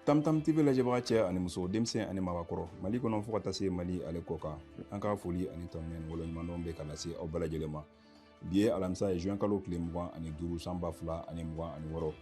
tamtam tv lajɛbaga cɛ ani muso denmisɛn ani mabakɔrɔ mali kɔnɔ fo ka taa se mali ale kɔkan an ka foli ani tanuni waleɲumandɔn bɛ ka lase aw bɛɛ lajɛlen ma bi ye alamisa ye juin kalo tile mugan ani duuru san ba fila ani mugan ani wɔɔrɔ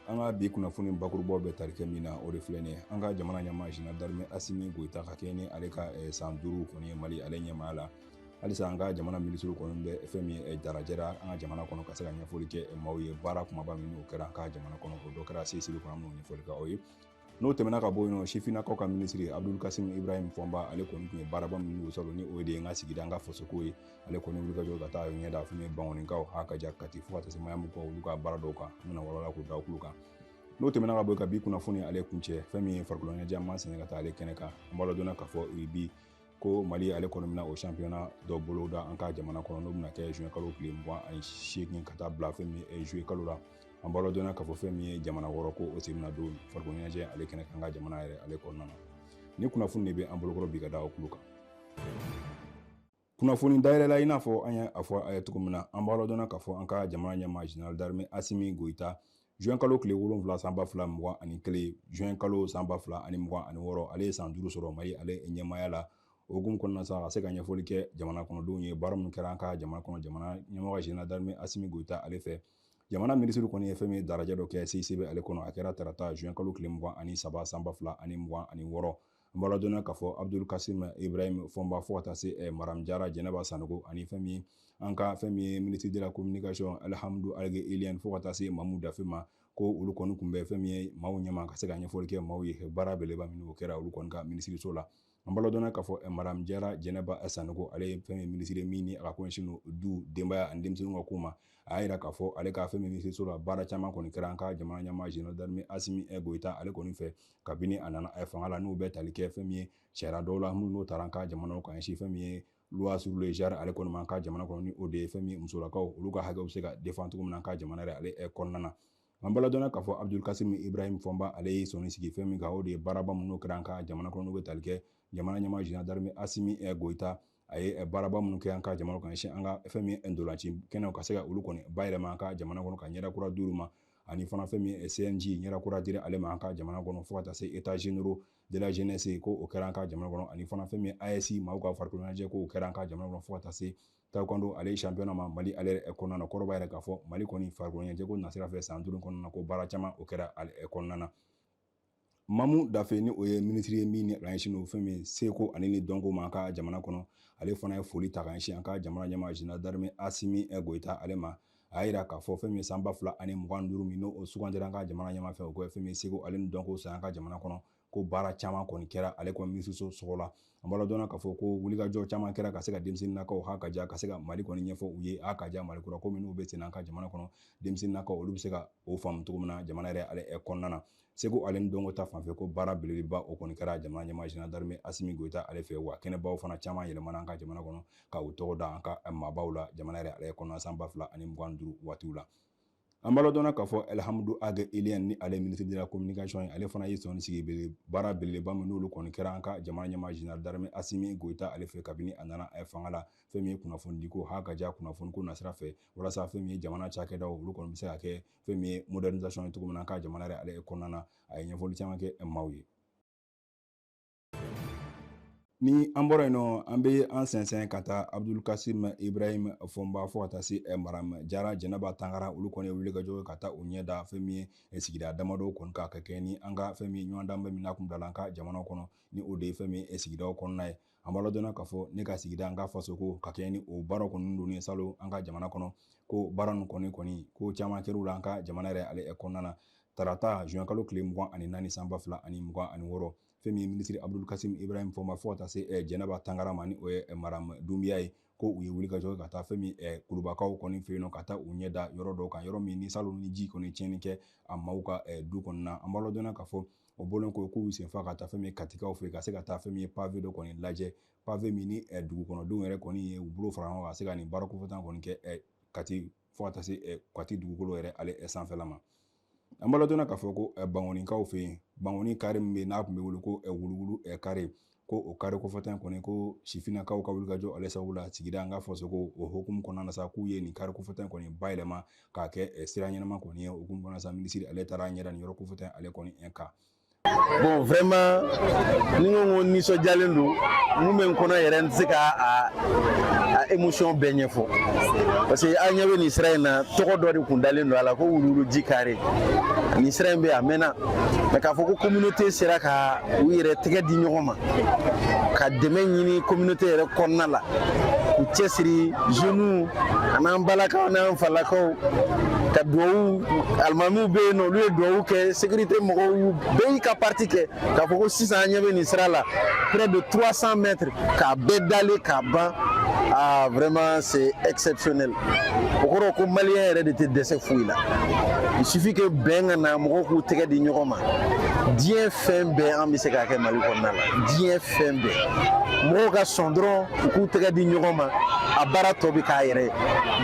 an ka bi kunnafoni bakurubaw bɛ tali kɛ min na o de filɛ nin ye an ka jamana ɲɛmaa general d'armée asimi goyita ka kɛɲɛ ni ale ka eh, san duuru kɔni ye mali ale ɲɛmaaya la halisa an ka jamana minisiriw kɔni bɛ fɛn min eh, darajɛra an ka jamana kɔnɔ ka se ka ɲɛfɔli kɛ eh, maaw ye baara kumaba minnu kɛra an ka jamana kɔnɔ o dɔ kɛra cicb kɔnɔ an b'o ɲɛfɔli kɛ aw ye n'o tɛmɛna ka bɔ yen nɔ sifinnakaw ka minisiri abdul kasim ibrahim fɔnba ale kɔni tun ye baaraba minnu sɔrɔ ni o de ye n ka sigida n ka fasoko ye ale kɔni wulikajɔ ka taa ɲɛda fɛn ye bankɔnikaw ha ka ja kati fo ka taa se mayamukaw olu ka baara dɔw kan an bɛna walawala k'o da kulu kan n'o tɛmɛna ka bɔ yen ka bi kunnafoni ale kuncɛ fɛn min ye farikoloɲɛnajɛ an b'an sɛnɛ ka taa ale kɛnɛ kan an b'a ladɔnniya k'a fɔ bi ko mali ale kɔni bɛna o championnat dɔ boloda an ka jamana kɔnɔ n'o bɛna kɛ juin kalo tile mugan ani seegin ka taa bila fɛn min ye juillet kalo la an b'a ladɔnniya k'a fɔ fɛn min ye jamana wɔɔrɔ ko o sen bɛna don farikolo ɲɛnajɛ ale kɛnɛ kan an ka jamana yɛrɛ ale kɔnɔna na nin kunnafoni de bɛ an bolokɔrɔ bi ka da o kulu kan kunnafoni dayɛlɛla i n'a fɔ an y'a fɔ aw ye cogo min na an b'a ladɔnniya k'a fɔ an ka jamana ɲɛmaa general d'armée asimi goyita juin kalo tile wolonwula san ba fila mugan ani kelen juin kalo san ba fila ani mugan ani wɔɔrɔ ale ye san duuru sɔrɔ mali ale ɲɛmaaya la o hukumu kɔnɔna sa ka se ka ɲɛfɔli kɛ jamana kɔnɔdenw ye baara minnu kɛra an ka jamana kɔnɔ jamana ɲɛmɔgɔ general d'armée asimi goyita ale fɛ jamana minisiri kɔni ye fɛn min ye darajɛ dɔ kɛ cicb ale kɔnɔ a kɛra tarata juin kalo tile mugan ani saba san ba fila ani mugan ani wɔɔrɔ an b'a ladɔnniya k'a fɔ abdul kasim ibrahim fɔnba fo ka taa se eh, madame jara jɛnɛba sanogo ani fɛn min an ka fɛn min ye ministre de la communication alhamdu ag ilyene fo ka taa se mamu dafe ma ko olu kɔni kun bɛ fɛn min ye maaw ɲɛma ka se ka ɲɛfɔli kɛ maaw ye baara beleba minnu kɛra olu kɔni ka minisiriso la an b'a ladɔnniya k'a fɔ eh, madame jara jɛnɛba sanogo ale ye fɛn min ye minisiri min ni a ka ko ɲɛsin don du denbaya ani denmisɛnninw ka ko ma a y'a jira k'a fɔ ale ka fɛn min ye minisiriso la baara caman kɔni kɛra an ka jamana ɲɛmaa general d'armée asimi goyita ale kɔni fɛ kabini a nana fanga la n'u bɛ tali kɛ fɛn min ye sariya dɔw la minnu n'o tara an ka jamana ka ɲɛsin fɛn min ye loi sur le genre ale kɔni ma an ka jamana kɔnɔ ni o de ye fɛn min ye musolakaw olu ka hakɛw bɛ se ka defan cogo min na an ka jamana yɛrɛ ale eh, kɔnɔna na an b'a ladɔnniya k'a fɔ abdul kasim ibrahim fɔnba ale ye sɔnni sigi fɛn min kan o de ye baaraba minnu kɛra an ka jamana kɔnɔ n'u bɛ tali kɛ jamana ɲɛmaa general d'armée asimi eh, goyita a ye baaraba minnu kɛ an ka jamana ka ɲɛsin an ka fɛn min ye ntolanci kɛnɛw ka se ka olu kɔni bayɛlɛma an ka jamana kɔnɔ ka ɲɛda kura d'olu ma ani fana fɛn min ye cnj ɲɛda kura dira ale ma an ka jamana kɔnɔ fo ka taa se états généraux de la jeunesse ko o kɛra an ka jamana kɔnɔ ani fana fɛn min ye aes maaw ka farikoloɲɛnajɛ ko o kɛra an ka jamana kɔnɔ fo ka taa se taekwondo ale championnat ma mali ale kɔnɔna na kɔrɔ b'a yira k'a fɔ mali kɔni farikoloɲɛnajɛko nasira fɛ san duuru kɔnɔna na ko baara caman o kɛra ale kɔnɔna na mamu dafe ni o ye minisiri ye min ɲɛsin o fɛn min seko ale ni dɔnko ma an ka jamana kɔnɔ ale fana ye foli ta ka ɲɛsin an ka jamana ɲɛmaa général d'armée asimi goyita ale ma a y'a jira k'a fɔ fɛn min san ba fila ani mugan duuru min n'o sugandira an ka jamana ɲɛmaa fɛ o ko fɛn min seko ale ni dɔnko san an ka jamana kɔnɔ ko baara caman kɔni kɛra ale kɔni minisiriso tɔgɔ la an b'a ladɔnna k'a fɔ ko wulikajɔ caman kɛra ka se ka denmisɛnninnakaw ha ka ja ka se ka mali kɔni ɲɛfɔ u ye a ka ja mali kura ko minnu bɛ sen an ka jamana kɔnɔ denmisɛnninnakaw olu bɛ se ka o faamu cogo min na jamana yɛrɛ ale kɔnɔna na seko ale ni dɔnko ta fanfɛ ko baara belebeleba o kɔni kɛra jamana ɲɛmaa général d'armée asimi goyita ale fɛ wa kɛnɛbaw fana caman yɛlɛmana an ka jamana kɔnɔ ka u tɔgɔ da an ka maabaw la jamana yɛrɛ ale kɔnɔna san ba fila ani mugan duuru waatiw la an b'a ladɔnna k'a fɔ alihamudu ag iliyɛn ni ale ministre de la communication ye ale fana ye sɔnni sigi bele baara belebeleba min n'olu kɔni kɛra an ka jamana ɲɛmaa général d'armée asimi goyita ale fɛ kabini a nana eh, fanga la fɛn min ye kunnafonidiko ha ka ja kunnafoniko nasira fɛ walasa fɛn min ye jamana cakɛdaw olu kɔni bɛ se ka kɛ fɛn min ye modernisation ye cogo min na an ka jamana yɛrɛ ale kɔnɔna na a ye ɲɛfɔli caman kɛ eh, maaw ye ni an bɔra yen nɔ an bɛ an sɛnsɛn ka taa abudulkasim ibrahim fɔnba fo ka taa se eh, maram jara jɛnɛba tangara olu kɔni ye wulikajɔ ka taa u ɲɛ da fɛn min ye eh, sigida damadɔ kɔni kan ka kɛɲɛ ni an ka fɛn min ɲɔgɔndanba min n'a kun bilala an ka jamana kɔnɔ ni o de ye fɛn min eh, sigidaw kɔnɔna ye an b'a ladɔnna k'a fɔ ne ka sigida an ka fasoko ka kɛɲɛ ni o baara kɔni don ni salon an ka jamana kɔnɔ ko baara nin kɔni kɔni ko caman kɛr'u la an ka jamana yɛrɛ ale kɔnɔna na tarata juin kalo tile mugan ani naani san ba fila ani mugan ani wɔɔrɔ fɛn min ye minisiri abudul kasim ibrahim fɔnba fo ka taa se eh, jɛnɛba tangara ma ni o ye eh, maram dunbiya ye ko u ye wulikajɔ ka taa fɛn min eh, kulubakaw kɔni fɛ yen nɔ ka taa u ɲɛ da yɔrɔ dɔw kan yɔrɔ min ni salon ni ji kɔni tiɲɛni kɛ a maaw ka du kɔnɔna an b'a ladɔnna k'a fɔ o bɔlen kɔ k'u senfa ka taa fɛn min ye katikaw fɛ ka se ka taa fɛn min ye pave dɔ kɔni lajɛ pave min ni dugukɔnɔdenw yɛrɛ kɔni ye u bolo fara ɲɔgɔn kan ka se ka nin baara kofɔtan kɔni kɛ kati fo ka taa se kati dugukolo yɛrɛ ale sanfɛla ma an b'a ladɔnna k'a fɔ ko bangonikaw fɛ yen bangoni kare min bɛ n'a tun bɛ wele ko wuluwulu kare ko o kare kofɔtan kɔni ko sifinnakaw ka wulikajɔ ale sababu la sigida an ka fasoko o hukumu kɔnɔna na sa k'u ye nin kare kofɔtan kɔni bayɛlɛma k'a kɛ sira ɲɛnama kɔni ye o hukumu kɔnɔna sa minisiri ale taara a ɲɛ da nin yɔrɔ kofɔtan ale kɔni kan bon vraiment ni ko ko nisɔndiyalen don mun bɛ n kɔnɔ yɛrɛ n tɛ se ka a a émotion bɛɛ ɲɛfɔ parce que an ɲɛ bɛ nin sira in na tɔgɔ dɔ de kun dalen don a la ko wuluwuluji kare nin sira in bɛ a mɛnna mais k'a fɔ ko communauté sera ka u yɛrɛ tɛgɛ di ɲɔgɔn ma ka dɛmɛ ɲini communauté yɛrɛ kɔnɔna la k'u cɛsiri jeunes an'an balakaw n'an falakaw ka duwawu alimamiw bɛ yen nɔ olu ye duwawu kɛ sécurité mɔgɔw bɛɛ y'i ka partie kɛ k'a fɔ ko sisan an ɲɛ bɛ nin sira la près de 300 mètres k'a bɛɛ dalen k'a ban ah vraiment c'est exceptionnel o kɔrɔ ko malien yɛrɛ de tɛ dɛsɛ foyi la il suffit que bɛn ka na mɔgɔw k'u tɛgɛ di ɲɔgɔn ma diɲɛ fɛn bɛɛ an bɛ se k'a kɛ mali kɔnɔna la diɲɛ fɛn bɛɛ mɔgɔw ka sɔn dɔrɔn u k'u tɛgɛ di ɲɔgɔn ma a baara tɔ bɛ k'a yɛrɛ ye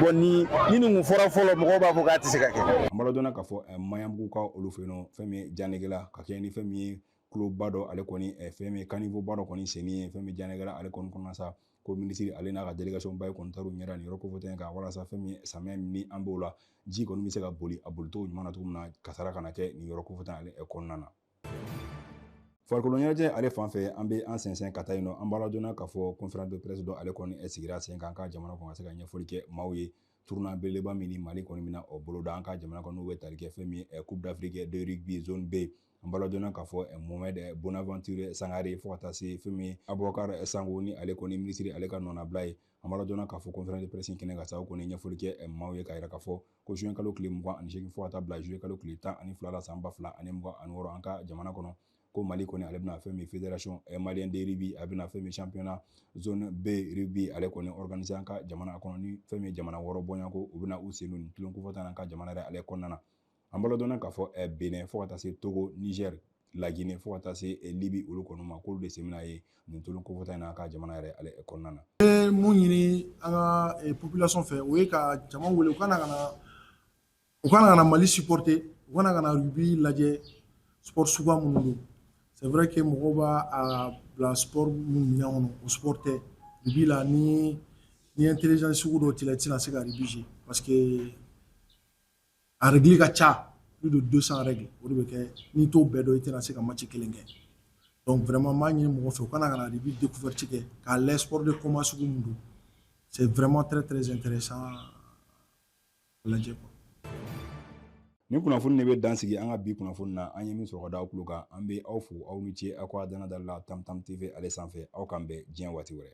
bon ni ni nin kun fɔra fɔlɔ mɔgɔw b'a fɔ k'a tɛ se ka kɛ an b'a ladɔnna k'a fɔ eh, maɲanbugukaw olu fɛ yen nɔ fɛn min ye janegela ka kɛ ni fɛn min ye tuloba dɔ ale kɔni eh, fɛn min ye caniveau ba dɔ kɔni senni ye fɛn min janegela ale kɔni kɔnɔna sa ko minisiri ale n'a ka délégation bɛɛ kɔni taar'u ɲɛ da nin yɔrɔ kofɔta in kan walasa fɛn min samiyɛ ni an b'o la ji kɔni bɛ se ka boli a bolicogo ɲuman na cogo min na kasara kana kɛ nin yɔrɔ kofɔta ale eh, kɔnɔna na farikolo ɲɛnajɛ ale fan fɛ an bɛ an sɛnsɛn ka taa yen nɔ an b'a ladɔnna k'a fɔ conférence de presse dɔ ale kɔni sigira sen kan an ka jamana kɔnɔ ka se ka ɲɛfɔli kɛ maaw ye tournoi belebeleba min ni mali kɔni bɛna o boloda an ka jamana kɔnɔ bɛ tali kɛ fɛn min ye coupe d'afrique de rugby zone b an b'a ladɔnna k'a fɔ eh, mohamed eh, bonaventure sangare fo ka taa se fɛn min abubakar eh, sango ni ale kɔni minisiri ale ka nɔnabila ye an b'a ladɔnna k'a fɔ conférence de presse kɛnɛ ka sababu kɔni ɲɛfɔli kɛ maaw ye k'a yira k'a fɔ ko juin kalo tile mugan ani seegin fo ka taa bila juillet kalo tile tan ani fila la san ba fila ani mugan ani wɔɔrɔ an ka jamana kɔnɔ ko mali kɔni ale bɛna fɛn min fédération eh, malien de rugby a bɛna fɛn min championnat zone b rugby ale kɔni organiser an ka jamana kɔnɔ ni fɛn min jamana wɔɔrɔ bɔɲɔgɔnko u bɛna u sen don nin tulon kofɔta in an ka jamana yɛrɛ ale kɔnɔna na an b'a ladɔnna k'a fɔ eh, bénin fo ka taa se togo niger laginɛ fo ka taa se eh, libi olu kɔni ma k'olu de sen bɛna ye nin tulon kofɔta in na an ka jamana yɛrɛ ale eh, kɔnɔna na bɛ mun ɲini an ka eh, population fɛ o ye ka jama wele u ka na ka na u ka na ka na mali supporter u ka na ka na rugby lajɛ sport suguya minnu don c'est vrai que mɔgɔw b'a a bila sport minnu minɛn kɔnɔ o sport tɛ rugby la ni ni intelligence sugu dɔ t'i la i tɛna se ka rugby jouer parce que a règle ka ca plus de 200 règles o de bɛ kɛ n'i t'o bɛɛ dɔn i tɛna se ka match kelen kɛ donc vraiment n b'a ɲini mɔgɔ fɛ u ka na ka na rugby découverte kɛ k'a lajɛ sport de combat sugu min don c'est vraiment très très intéressant a lajɛ quoi nin kunnafoni de bɛ dan sigi an ka bi kunnafoni na an ye min sɔrɔ ka da aw tulo kan an bɛ aw fo aw ni ce aw ka danadali la tam tam tv ale sanfɛ aw k'an bɛn diɲɛ waati wɛrɛ